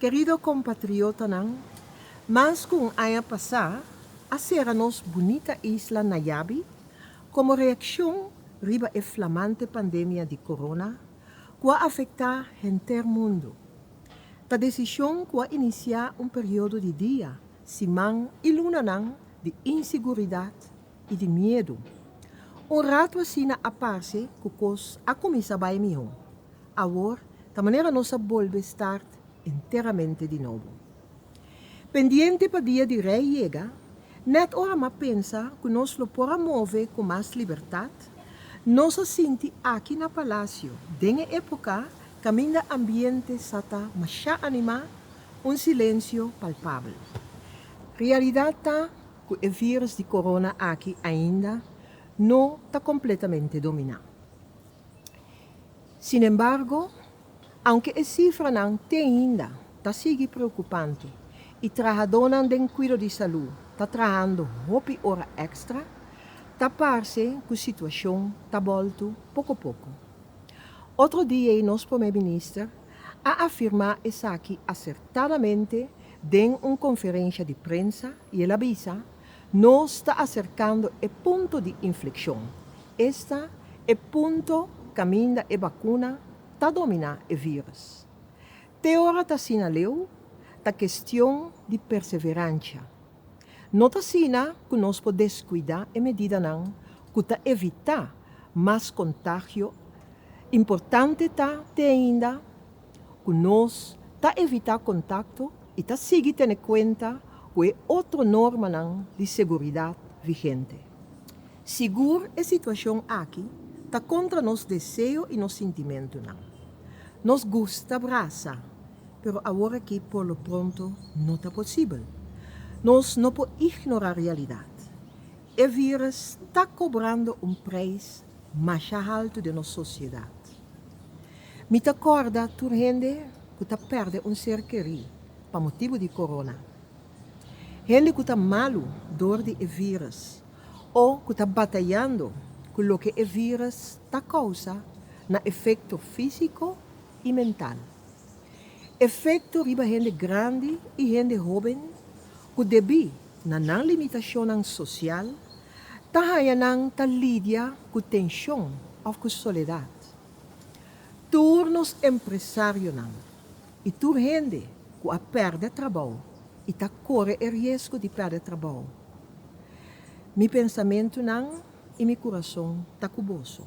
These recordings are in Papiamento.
Kerido kompatriotanan, mas ku un aña pasá a sera nos bunita isla Nayabi komo reakshon riba e flamante pandemia di corona ku a afektá henter mundu. Ta desishon ku a inisiá un periodo di dia Siman i lunanan di inseguridat i di miedu. Un ratu asina a parse ku kos a kuminsá bai mihó. Awor ta manera nos a bolbe start enteramente di nobo. Pendiente pa dia di Rei yega, nèt ora m'a pensa ku nos lo por a move ku mas libertat, nos a sinti aki na palasio den e époka kaminda ambiente sa ta mashá animá, Un silensio palpabel. Realidad ta cu e virus di corona aki ainda no ta completamente domina. Sin embargo, aunke e cifranan te ainda ta sigui preocupante y trahadornan den cuido di salud ta trahando hopi ora extra, ta parce cu situacion ta bolto poco poco. Otro di ei nos Prome Minister a afirmá esaki asertadamente den un konferensha di prensa i el a bisa, Nos ta aserkando e punto di inflekshon. Esta e punto kaminda e bakuna ta dominá e vírùs. Te ora ta asina leu, ta kestion di perseveransha. No ta asina ku nos por deskuidá e medidanan ku ta evitá mas kontagio. Importante ta te ainda ku nos ta evitá kontakto i ta sigui tene kuenta ku e otro normanan di seguridat vigente. Sigur e situashon aki ta kontra nos deseo i nos sintimentunan. Nos gusta brasa Pero awor aki por lo pronto no ta posibel. Nos no por ignorá realidat. E vírùs ta kobrando un preis masha haltu den nos sosiedat. Mi ta kòrda tur hende ku ta pèrdè un ser kerí pa motibu di Corona. Hende ku ta malu dor di e vírùs o ku ta batayando ku loke e vírùs ta kousa na efekto físiko i mental. Efekto riba hende grandi i hende hóben ku debí na nan limitashonnan sosial ta haña nan ta lidia ku tenshon òf ku soledat. Tur nos empresarionan i tur hende ku a pèrdè trabou i ta kore e riesgo di pèrdè trabou, mi pensamentunan i mi kurason ta ku boso.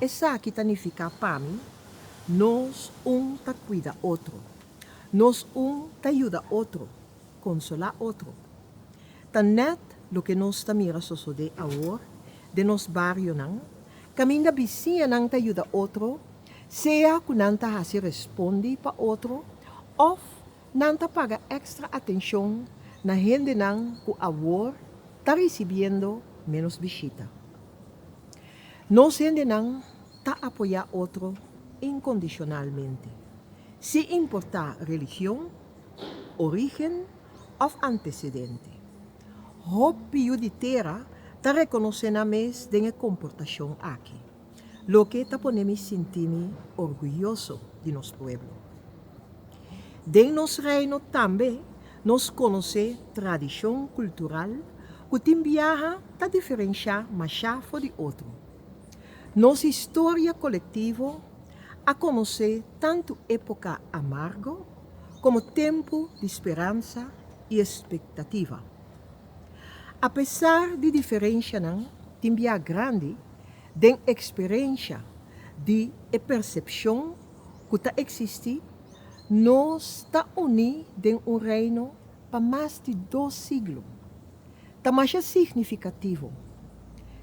Esaki ta nifiká pa mi, nos un ta kuida otro, nos un ta yuda otro, konsolá otro. Ta nèt loke nos ta mira sosodé awor den nos barionan, kaminda bisiñanan ta yuda otro, sea ku nan ta hasi respondi pa otro òf nan ta paga èkstra atenshon na hendenan ku awor ta risibiendo ménos bishita. Nos hendenan ta apoyá otro inkondishonalmente, sin importá religion, orígen òf antesedente. Hopi yu di tera ta rekonosé nan mes den e komportashon aki, loke ta pone mi sinti mi orguyoso di nos pueblo. Den nos reino tambe Nos conoce tradicion cultural cu tin biaha ta diferencia masha for di otro. Nos historia colectivo a conoce tanto epoca amargo como tempo di speransa y expectativa. A pesar di diferencianan tin biaha grandi den experencia di e percepcion ku ta eksistí, nos ta uní den un Reino pa mas di dos siglo, ta masha signifikativo.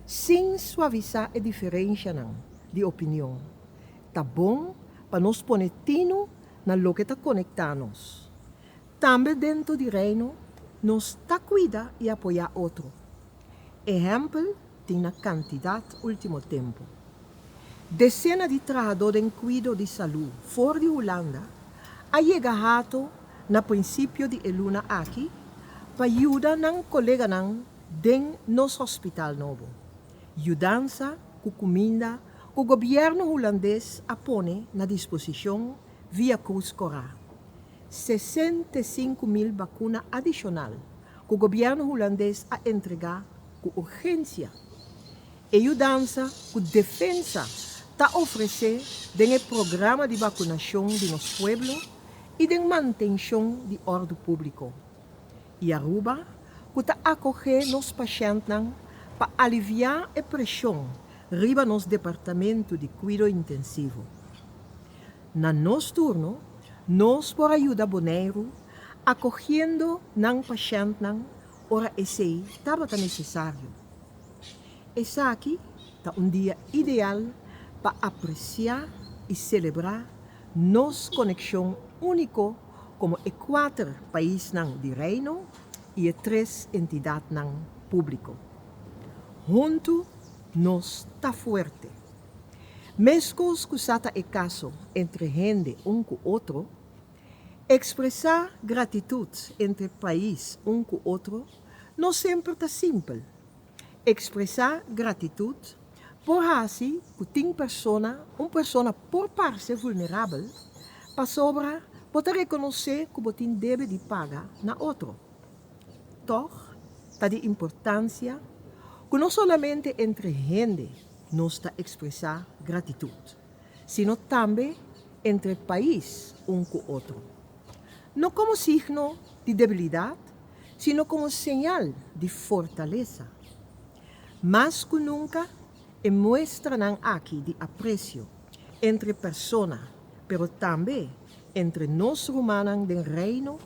Sin suavisá e diferenshanan di opinion, ta bon pa nos pone tinu na loke ta konektá nos. Tambe dentro di Reino, nos ta kuida i apoyá otro. Ehèmpel tin na kantidat último tempu. Desena di trahadó den kuido di salú for di Hulanda a yega Hato na prinsipio di e luna aki pa yuda nan koleganan den nos hospital nobo. Yudansa ku kuminda ku gobièrnu hulandes a pone na disposishon via Cruz Corah. Sesenta i sinku mil bakuna adishonal ku gobièrnu hulandes a entregá ku urgensia e yudansa ku Defensa ta ofresé den e programa di bakunashon di nos pueblo i den mantenshon di òrdu públiko. I Aruba, ku ta akogé nos pashèntnan pa aliviá e preshon riba nos Departamentu di Kuido Intensivo. Na nos turno, nos por a yuda Boneiru Acogiendo nan pashèntnan ora esei tabata nesesario. Esaki ta un dia ideal pa apreciá i celebrá nos coneccion único como e kuater paisnan di Reino i e tres entidadnan público. Huntu nos ta fuerte! Meskos cu sa ta e caso entre hende un cu otro, Expresa gratitut entre pais un cu otro no semper ta simpel. Expresa gratitut por haci cu tin persona, un persona por parce vulnerabel pasobra bo ta reconoce cu bo tin debe di paga na otro. Tog, ta di importancia cu no solamente entre hende nos ta expresa gratitut. sino tambe entre pais un ku otro, no komo signo di debilidat, sino komo señal di fortalesa. Mas ku nunka, e muestranan aki di apresio entre persona, pero tambe entre nos rumannan den Reino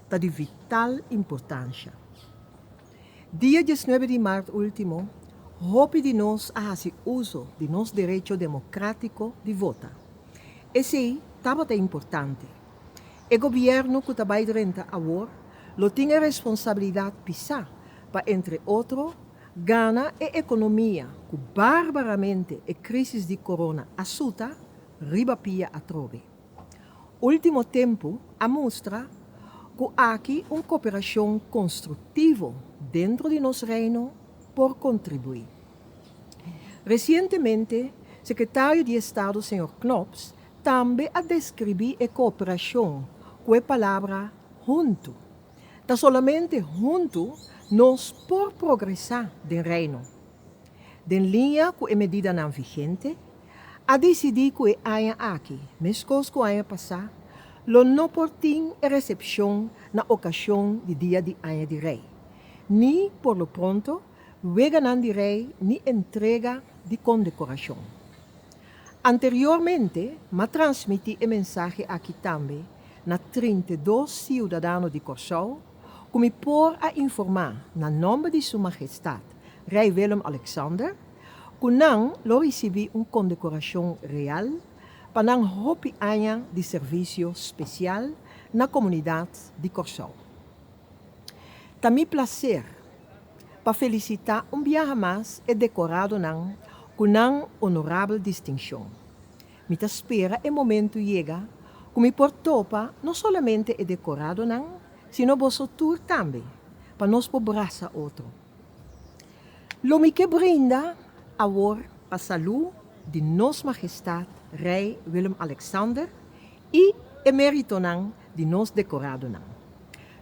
ta di vital importansha. Dia diesnuebe di mart ultimo, hopi di nos a hasi uso di nos derecho democratico di vota. Esey tabata importante. E gobierno cu ta bay drenta awor lo tin e responsabilidad pisa pa entre otro gana e economia cu barbaramente e crisis di corona a suta riba pia atrobe. Ultimo tempu a mustra cu aki un cooperacion constructivo dentro di nos Reino por contribui. Recientemente Secretario di Estado Señor Knops tambe a describi e cooperacion cu e palabra huntu. Ta solamente huntu nos por progresa den Reino. den liña ku e medidanan vigente, a disidí ku e aña aki, meskos ku aña pasá, lo no por tin e resepshon na okashon di Dia di Aña di Rei, ni, por lo pronto, Weganan di Rei ni entrega di kondekorashon. Anteriormente m'a transmití e mensahe aki tambe na trinta i dos siudadano di Kòrsou, Cu mi por a informa na nomber di Su Magestad Rey Willem-Alexander cu nan lo ricibi un condecoracion real pa nan hopi aña di servicio special na comunidad di Corsou. Ta mi placer pa felicita un biaha mas e decoradonan cu nan honorabel distincion. Mi ta spera e momentu yega ku mi por topa no solamente e dekoradonan, sino boso tur tambe, pa nos por brasa otro. Lo mi ke brinda awor pa salú di Nos Majestat Rei Willem-Alexander i eméritonan di nos dekoradonan.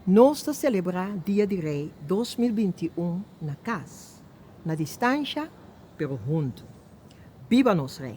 Nos ta selebrá Dia di Rei dos mil binti i un na kas, na distansha pero huntu. Biba nos Rei!